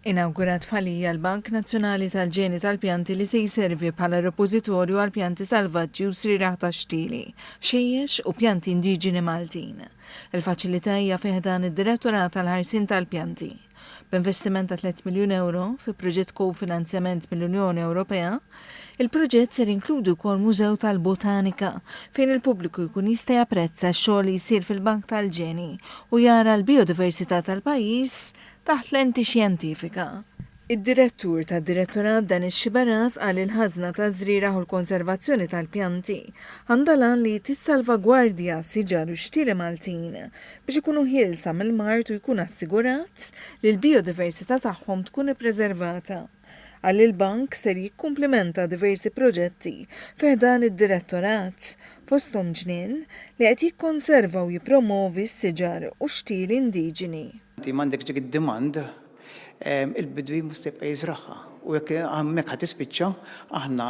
Inawgurat f'Ħal-Ija l-Bank Nazzjonali tal-Ġeni tal-Pjanti li se jservi bħala repożitorju għal pjanti salvaġġi u srieragħ tax-xtieli, ħxejjex u pjanti indiġeni Maltin. Il-faċilità hija fi ħdan id-Direttorat għall-Ħarsien tal-Pjanti. B'investiment ta' tliet miljun ewro, fi proġett kofinanzjament mill-Unjoni Ewropea, Il-proġett ser jinkludi wkoll mużew tal-botanika fejn il-pubbliku jkun jista' japprezza x-xogħol li jsir fil-bank tal-ġeni u jara l-bijodiversità tal-pajjiż taħt lenti xjentifika. Id-Direttur tad-Direttorat Denis Sciberras qal li l-ħażna taż-żrieragħ u l-konservazzjoni tal-pjanti għandha l-għan li tissalvagwardja siġar u xtieli Maltin biex ikunu ħielsa mill-mard u jkun assigurat li l-bijodiversità tagħhom tkun ippreservata. Qal li l-Bank ser jikkumplimenta diversi proġetti fi ħdan id-Direttorat, fosthom ġnien li qed jikkonserva u jippromovi s-siġar u x-xtieli indiġeni. Inti m'għandekx dik id-demand, il-bidwi mhux se jibqa' jiżragħha u jekk hemmhekk ħa tispiċċa, aħna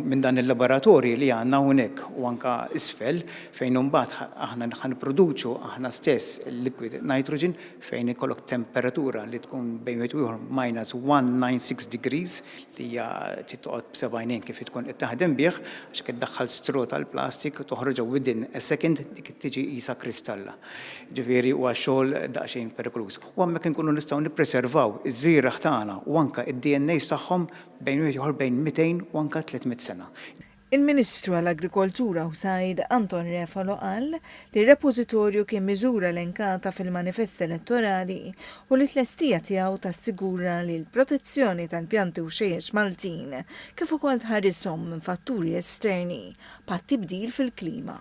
minn dan il-laboratorji li għandna hawnhekk u anke isfel fejn imbagħad aħna ħa nipproduċu aħna stess il-liquid nitrogen, fejn ikollok temperatura li tkun bejn wieħed u ieħor minus 196 degrees li hija titqgħod b'seba' għajnejn kif tkun qed taħdem bih għax qed daħħal stro tal-plastik u toħroġha within a second dik tiġi qisha kristalla. Ġifieri huwa xogħol daqsxejn perikoluż. U hemmhekk inkunu nistgħu nippreservaw iż-żgħirah tagħna u anke d-DNAs tagħhom bejn wieħed ieħor bejn 200 u anke 300 sena. Il-Ministru għall-Agrikoltura u Sajd Anton Refalo qal li r-repożitorju kien miżura elenkata fil-manifest elettorali u li t-tlestija tiegħu tassigura li l-protezzjoni tal-pjanti u xejjex Maltin kif ukoll tħarishom minn fatturi esterni bħat-tibdil fil-klima.